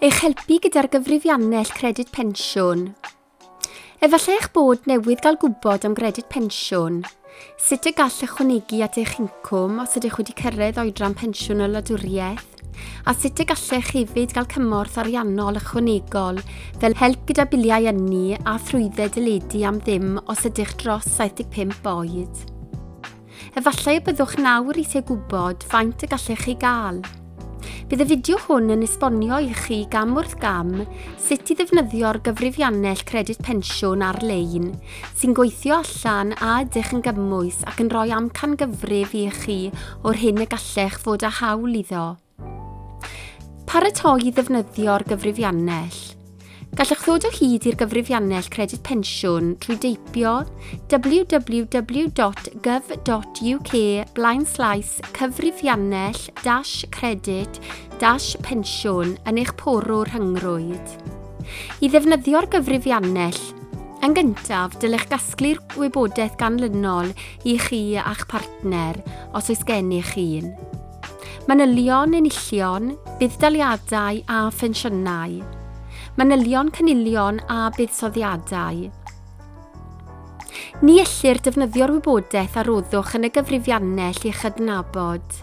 Eich helpu gyda'r gyfrifiannell Credyd Pensiwn. Efallai eich bod newydd gael gwybod am Gredyd Pensiwn, sut y gall ychwanegu at eich incwm os ydych wedi cyrraedd oedran pensiwn y wladwriaeth, a sut y gallech hefyd gael cymorth ariannol ychwanegol fel help gyda biliau ynni a thrwydded deledu am ddim os ydych dros 75 oed. Efallai y byddwch nawr eisiau gwybod faint y gallech chi gael. Bydd y fideo hwn yn esbonio i chi gam wrth gam sut i ddefnyddio'r gyfrifiannell Credyd Pensiwn ar-lein sy'n gweithio allan a ydych yn gymwys ac yn rhoi amcangyfrif i chi o'r hyn y gallech fod â hawl iddo. Paratoi i ddefnyddio'r gyfrifiannell. Gallwch ddod o hyd i'r gyfrifiannell Credyd Pensiwn trwy deipio www.gov.uk blaenslaes cyfrifiannell dash credyd dash pensiwn yn eich porw rhyngrwyd. I ddefnyddio'r gyfrifiannell, yn gyntaf, dylech gasglu'r wybodaeth ganlynol i chi a'ch partner, os oes gennych un. Manylion enillion, budd-daliadau a phensiynau. Manylion cynilion a buddsoddiadau. Ni ellir defnyddio'r wybodaeth a roddwch yn y gyfrifiannell i'ch adnabod.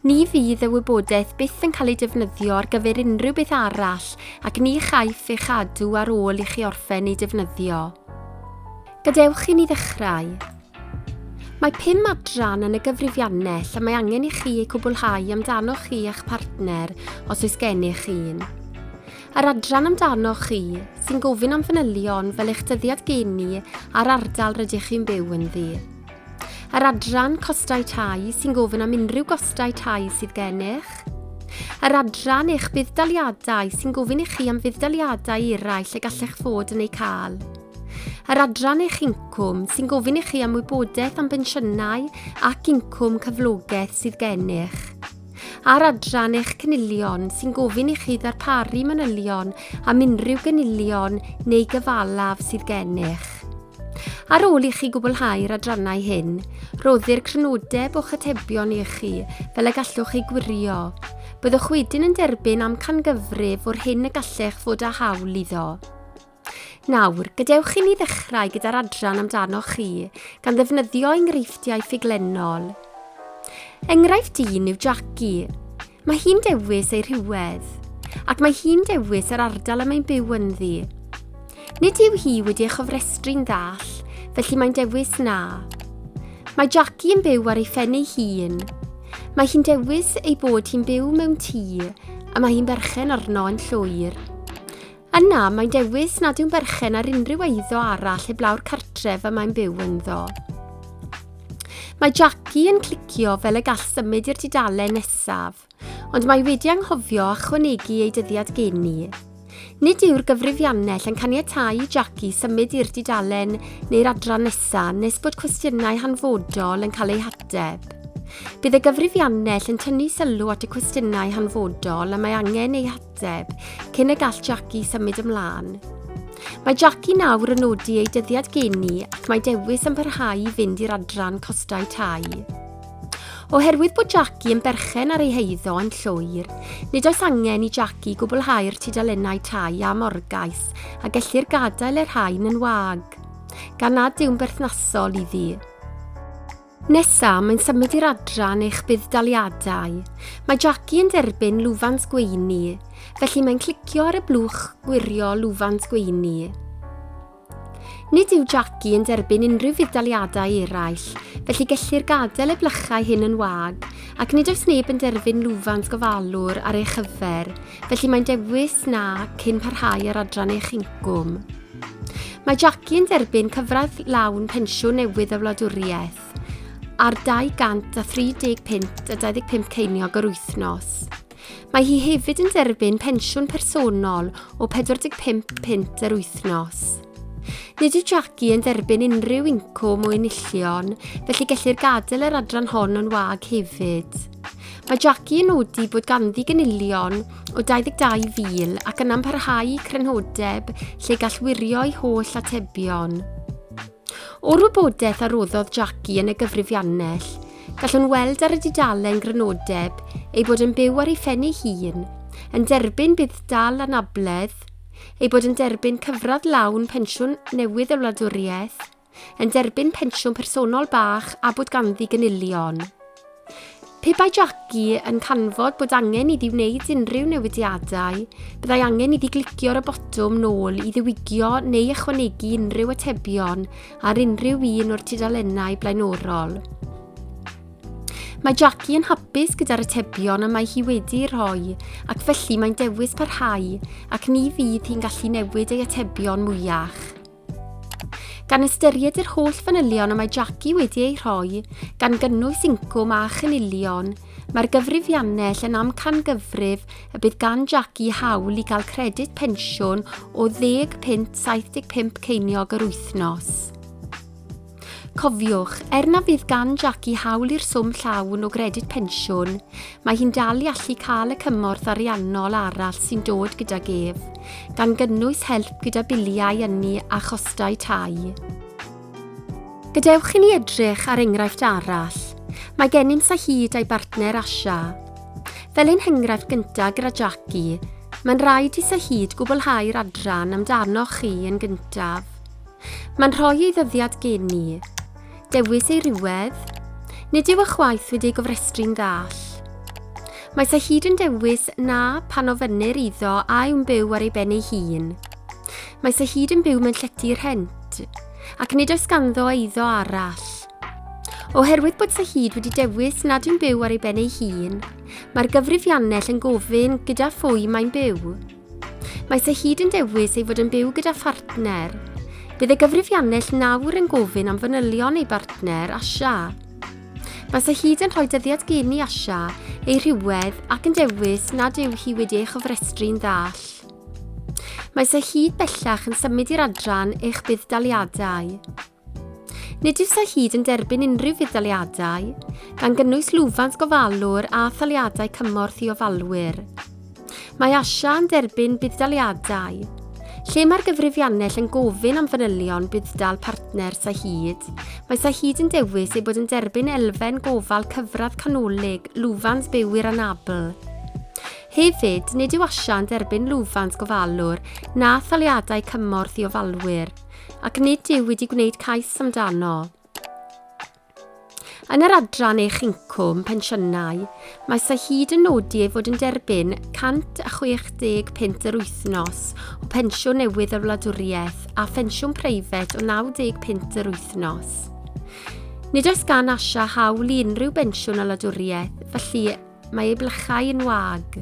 Ni fydd y wybodaeth byth yn cael ei defnyddio ar gyfer unrhyw beth arall ac ni chaiff ei chadw ar ôl i chi orffen ei defnyddio. Gadewch i ni ddechrau. Mae pum adran yn y gyfrifiannell y mae angen i chi eu cwblhau amdanoch chi a'ch partner, os oes gennych un. Yr adran amdanoch chi, sy'n gofyn am fanylion fel eich dyddiad geni a'r ardal rydych chi'n byw ynddi. Yr adran costau tai, sy'n gofyn am unrhyw gostau tai sydd gennych. Yr adran eich budd-daliadau, sy'n gofyn i chi am fudd-daliadau eraill y gallech fod yn eu cael. Yr adran eich incwm sy'n gofyn i chi am wybodaeth am bensiynau ac incwm cyflogaeth sydd gennych. Ar adran eich cynilion sy'n gofyn i chi ddarparu manylion am unrhyw gynilion neu gyfalaf sydd gennych. Ar ôl i chi gwblhau'r adrannau hyn, roddir crynodeb o'ch atebion i chi fel y gallwch chi gwirio. Byddwch wedyn yn derbyn amcangyfrif o'r hyn y gallech fod â hawl iddo. Nawr, gadewch i ni ddechrau gyda'r adran amdanoch chi, gan ddefnyddio enghreifftiau ffuglenol. Enghraifft un yw Jackie. Mae hi'n dewis ei rhywedd, ac mae hi'n dewis yr ardal y mae'n byw ynddi. Nid yw hi wedi ei chofrestru'n ddall, felly mae'n dewis na. Mae Jackie yn byw ar ei phen ei hun. Mae hi'n dewis ei bod hi'n byw mewn tŷ a mae hi'n berchen arno yn llwyr. Yna, mae'n dewis nad yw'n berchen ar unrhyw eiddo arall heblaw'r cartref y mae'n byw ynddo. Mae Jackie yn clicio fel y gall symud i'r dudalen nesaf, ond mae wedi anghofio chwanegu ei dyddiad geni. Nid yw'r gyfrifiannell yn caniatau i Jackie symud i'r dudalen neu'r adran nesaf nes bod cwestiynau hanfodol yn cael eu hateb. Bydd y gyfrifiannell yn tynnu sylw at y cwestiynau hanfodol y mae angen eu hateb Deb, cyn y gall Jackie symud ymlaen. Mae Jackie nawr yn nodi ei dyddiad geni ac mae dewis yn parhau i fynd i'r adran costau tai. Oherwydd bod Jackie yn berchen ar ei heiddo yn llwyr, nid oes angen i Jackie gwblhau'r tudalennau tai a morgais a gellir gadael y rhain yn wag, gan nad yw'n berthnasol iddi. Nesa, mae'n symud i'r adran eich budd-daliadau. Mae Jackie yn derbyn lwfans gweini, felly mae'n clicio ar y blwch gwirio lwfans gweini. Nid yw Jackie yn derbyn unrhyw fudd-daliadau eraill, felly gellir gadael y blychau hyn yn wag, ac nid oes neb yn derbyn lwfans gofalwr ar ei chyfer, felly mae'n dewis na cyn parhau ar adran eich incwm. Mae Jackie yn derbyn cyfraith lawn pensiwn newydd y wladwriaeth ar 230 punt a 25 ceiniog yr wythnos. Mae hi hefyd yn derbyn pensiwn personol o 45 punt yr wythnos. Nid yw Jackie yn derbyn unrhyw incwm o enillion, felly gellir gadael yr adran hon o'n wag hefyd. Mae Jackie yn nodi bod ganddi gynilion o 22,000 ac yna'n parhau i crynhodeb lle gall wirio'i holl atebion. O'r wybodaeth a roddodd Jackie yn y gyfrifiannell, gallwn weld ar y dudalen grynodeb ei bod yn byw ar ei phen ei hun, yn derbyn bydd dal anabledd, ei bod yn derbyn cyfradd lawn pensiwn newydd y wladwriaeth, yn derbyn pensiwn personol bach a bod ganddi gynilion. Pe bai Jackie yn canfod bod angen iddi wneud unrhyw newidiadau, byddai angen iddi glicio ar y botwm nôl i ddiwygio neu ychwanegu unrhyw atebion ar unrhyw un o'r tudalennau blaenorol. Mae Jackie yn hapus gyda'r atebion y mae hi wedi rhoi ac felly mae'n dewis parhau ac ni fydd hi'n gallu newid ei atebion mwyach. Gan ystyried yr holl fanylion y mae Jackie wedi eu rhoi, gan gynnwys incwm a chynilion, mae'r gyfrifiannell yn amcangyfrif y bydd gan Jackie hawl i gael credyd pensiwn o ddeg punt 75 ceiniog yr wythnos. Cofiwch, er na fydd gan Jackie hawl i'r swm llawn o gredyd pensiwn, mae hi'n dal i allu cael y cymorth ariannol arall sy'n dod gydag ef, gan gynnwys help gyda biliau ynni a chostau tai. Gadewch i ni edrych ar enghraifft arall. Mae gennym Sahid a'i bartner Asha. Fel ein henghraifft gyntaf gyda Jackie, mae'n rhaid i Sahid gwblhau'r adran amdanoch chi yn gyntaf. Mae'n rhoi ei ddyddiad gen ni. Dewis ei rhywedd. Nid yw y chwaith wedi ei gofrestru'n ddall. Mae sa hyd yn dewis na pan ofynnir iddo a yw'n byw ar ei ben ei hun. Mae sa hyd yn byw mewn llety rhent, ac nid oes ganddo eiddo arall. Oherwydd bod sa hyd wedi dewis nad yw'n byw ar ei ben ei hun, mae'r gyfrifiannell yn gofyn gyda phwy mae'n byw. Mae Sahid yn dewis ei fod yn byw gyda phartner. Bydd y gyfrifiannell nawr yn gofyn am fanylion ei bartner, Asha. Mae Sahid yn rhoi dyddiad gen i Asha, ei rhywedd ac yn dewis nad yw hi wedi ei chofrestru'n ddall. Mae Sahid bellach yn symud i'r adran eich budd-daliadau. Nid yw'r hyd yn derbyn unrhyw fudd-daliadau, gan gynnwys lwfans gofalwr a thaliadau cymorth i ofalwyr. Mae ASIA yn derbyn budd-daliadau, lle mae'r gyfrifiannell yn gofyn am fanylion budd-dal partner Sahid. Mae Sahid yn dewis ei bod yn derbyn elfen gofal cyfradd canolig lwfans byw i'r anabl. Hefyd, nid yw ASIA yn derbyn lwfans gofalwr na thaliadau cymorth i ofalwyr. ac nid yw wedi gwneud cais amdano. Yn yr adran eich incwm pensiynau, mae Sahid yn nodi ei fod yn derbyn 165 yr wythnos o pensiwn newydd yr wladwriaeth a phensiwn preifat o 95 yr wythnos. Nid oes gan Asha hawl i unrhyw bensiwn o wladwriaeth, felly Mae ei blychau yn wag.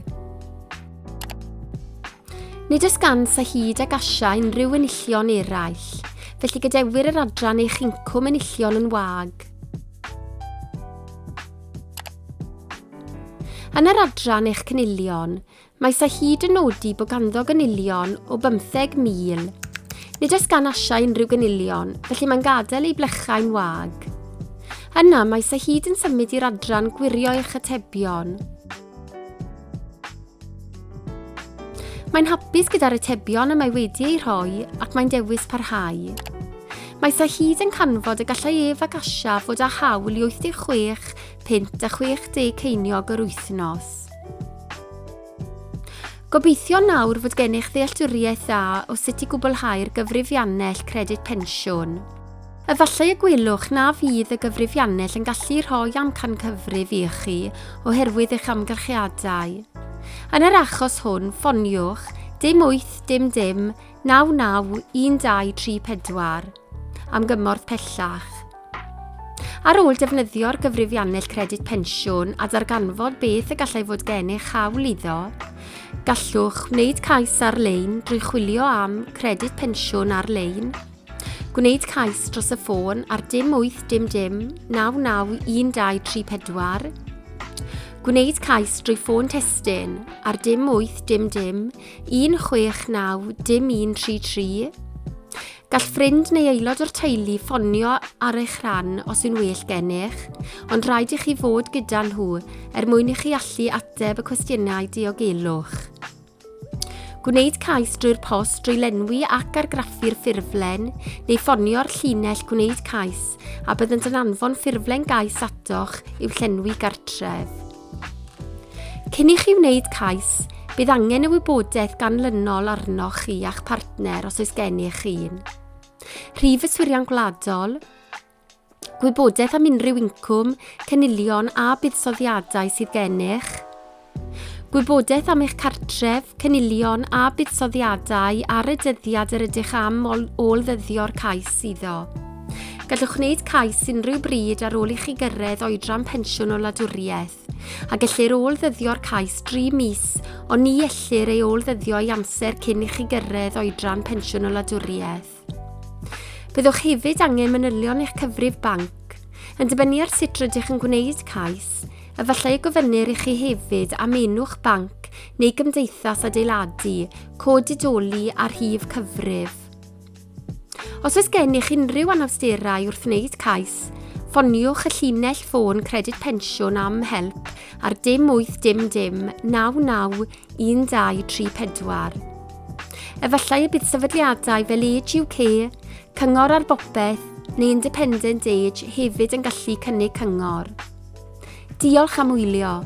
Nid oes gan sa hyd ag asia unrhyw enillion eraill, felly gadewir yr adran eich incwm enillion yn wag. Yn yr adran eich cynilion, Mae Sir Hyd yn nodi bod ganddo gynilion o 15,000. Nid oes gan Asia unrhyw gynilion, felly mae'n gadael ei blechau'n wag. Yna mae Sir Hyd yn symud i'r adran gwirio eich atebion. Mae'n hapus gyda'r atebion y mae wedi eu rhoi ac mae'n dewis parhau. Mae Sir Hyd yn canfod y gallai ef ac Asia fod â hawl i 86 pint a 60 ceiniog yr wythnos. Gobeithio nawr fod gennych ddealltwriaeth dda o sut i gwblhau'r gyfrifiannell Credyd Pensiwn. Efallai y gwelwch na fydd y gyfrifiannell yn gallu rhoi amcan cyfrif i chi oherwydd eich amgylchiadau. Yn yr achos hwn, ffoniwch dim wyth dim dim naw naw un dau tri pedwar. am gymorth pellach. Ar ôl defnyddio'r gyfrifiannell credyd pensiwn a darganfod beth y gallai fod gennych hawl iddo, gallwch wneud cais ar-lein drwy chwilio am credyd pensiwn ar-lein, gwneud cais dros y ffôn ar dim 8 dim dim 991234, gwneud cais drwy ffôn testyn ar dim 8 dim dim 169 dim 133, Gall ffrind neu aelod o'r teulu ffonio ar eich rhan os yw'n well gennych, ond rhaid i chi fod gyda nhw er mwyn i chi allu ateb y cwestiynau diogelwch. Gwneud cais drwy'r post drwy lenwi ac argraffu'r ffurflen neu ffonio'r llinell gwneud cais a byddant yn anfon ffurflen gais atoch i'w llenwi gartref. Cyn i chi wneud cais, bydd angen y wybodaeth ganlynol arnoch chi a'ch partner os oes gennych un. Rhif yswiriant gwladol, gwybodaeth am unrhyw incwm, cynilion a buddsoddiadau sydd gennych, gwybodaeth am eich cartref, cynilion a buddsoddiadau ar y dyddiad yr ydych am ôl-ddyddio'r cais iddo. Gallwch wneud cais unrhyw bryd ar ôl i chi gyrraedd oedran pensiwn o wladwriaeth, a gellir ôl-ddyddio'r cais dri mis, ond ni ellir ei ôl-ddyddio i amser cyn i chi gyrraedd oedran pensiwn o wladwriaeth. Byddwch hefyd angen manylion eich cyfrif banc. Yn dibynnu ar sut rydych yn gwneud cais, efallai y gofynnir i chi hefyd am enw'ch banc neu gymdeithas adeiladu, cod didoli a rhif cyfrif. Os oes gennych unrhyw anawsterau wrth wneud cais, ffoniwch y llinell ffôn Credyd Pensiwn am help ar dim 8 dim dim 991234. Efallai y bydd sefydliadau fel Age UK, Cyngor ar Bopeth neu Independent Age hefyd yn gallu cynnig cyngor. Diolch am wylio.